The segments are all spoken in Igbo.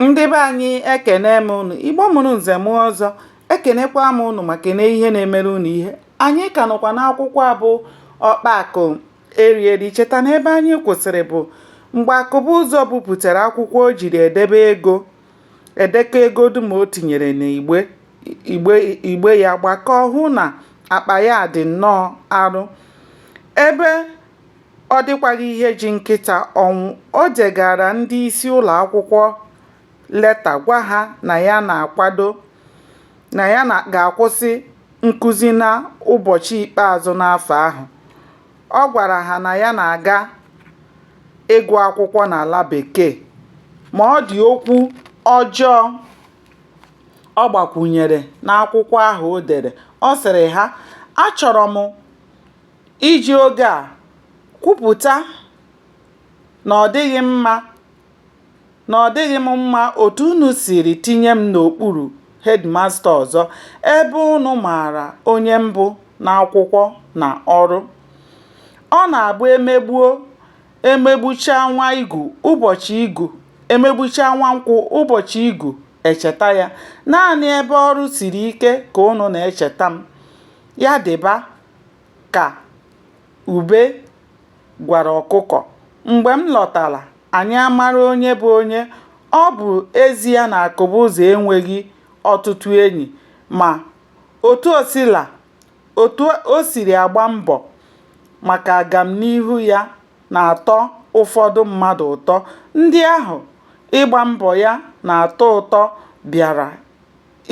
ndị be anyị ekene m unu igbo mụrụ nze mụọ ọzọ ekenekwa m unu ma kene ihe na-emere unu ihe anyị ka nọkwa n'akwụkwọ a bụ ọkpa akụ erieri cheta na ebe anyị kwụsịrị bụ mgbe akụbụzọ bupụtara akwụkwọ o jiri edebe ego edekọ ego dum o tinyere n'igbe igbe igbe ya gbakọọ hụ na akpa ya dị nnọọ arụ ebe Ọ dịkwaghị ihe ji nkịta ọnwụ. O degaara ndị isi ụlọ akwụkwọ leta gwa ha na ya ga-akwụsị nkuzi n'ụbọchị ikpeazụ n'afọ ahụ. Ọ gwara ha na ya na-aga ịgụ akwụkwọ n'ala Bekee. Ma ọ dị okwu ọjọọ ọ gbakwụnyere n'akwụkwọ ahụ o dere. Ọ sịrị ha, Achọrọ m Iji oge a kwupụta na ọ dịghị mma na ọ dịghị m mma otu unu siri tinye m n'okpuru hedịmasta ọzọ ebe unu maara onye m bụ n'akwụkwọ na ọrụ. Ọ na-abụ e megbuo, e megbuchaa nwa igu, ụbọchị igu, e megbuchaa nwa nkwụ, ụbọchị igu e cheta ya. Naanị ebe ọrụ siri ike ka unu na-echeta m. Ya dịba! ka Ube gwara ọkụkọ. Mgbe m lọtara, anyị amara onye bụ onye. Ọ bụ ezie na Akụbụzọ enweghị ọtụtụ enyi, ma otu o siri agba mbọ maka agamnihu ya na-atọ ụfọdụ mmadụ ụtọ. Ndị ahụ ịgba mbọ ya na-atọ ụtọ bịara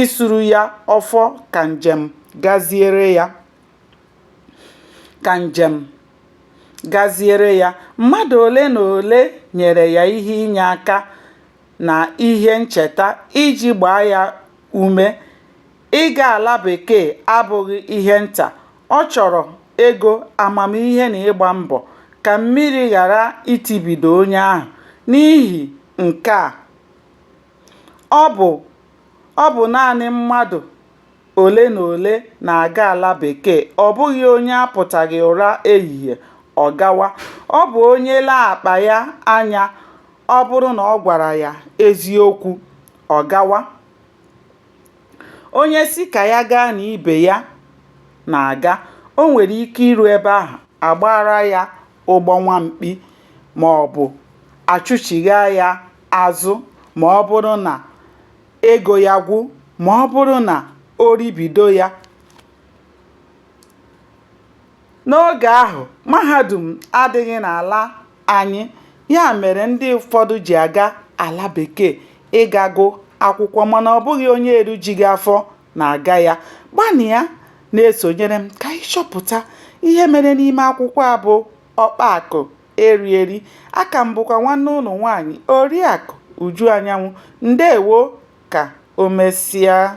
isuru ya ọfọ ka njem gaziere ya ka njem gaziere ya. Mmadụ ole na ole nyere ya ihe inye aka na ihe ncheta iji gbaa ya ume. Ịga ala bekee abụghị ihe nta. Ọ chọrọ ego, amamihe na ịgba mbọ ka mmiri ghara itibido onye ahụ. N'ihi nke a Ọ bụ Ọ bụ naanị mmadụ ole na ole na-aga ala bekee, ọ bụghị onye apụtaghị ụra ehihie ọ gawa, ọ bụ onye lee akpa ya anya ọ bụrụ na ọ gwara ya eziokwu, ọ gawa, onye sị ka ya gaa na ibe ya na-aga, o nwere ike iru ebe ahụ, a gbaara ya ụgbọ nwa mkpi maọbụ a chụchighaa ya azụ ma ọ bụrụ na ego ya gwụ ma ọ bụrụ na o ribido ya. N'oge ahụ, mahadum adịghị n'ala anyị, ya mere ndị ụfọdụ ji aga ala bekee ịga gụ akwụkwọ mana ọ bụghị onye erujighị afọ na-aga ya. Gbalịa na-esonyere m ka anyị chọpụta ihe mere n'ime akwụkwọ a bụ Ọkpa Akụ Eri Eri. Aka m bụkwa nwanne ụnụ nwaanyị Oriakụ Uju Anyanwụ. Ndewo! Ka o mesịa.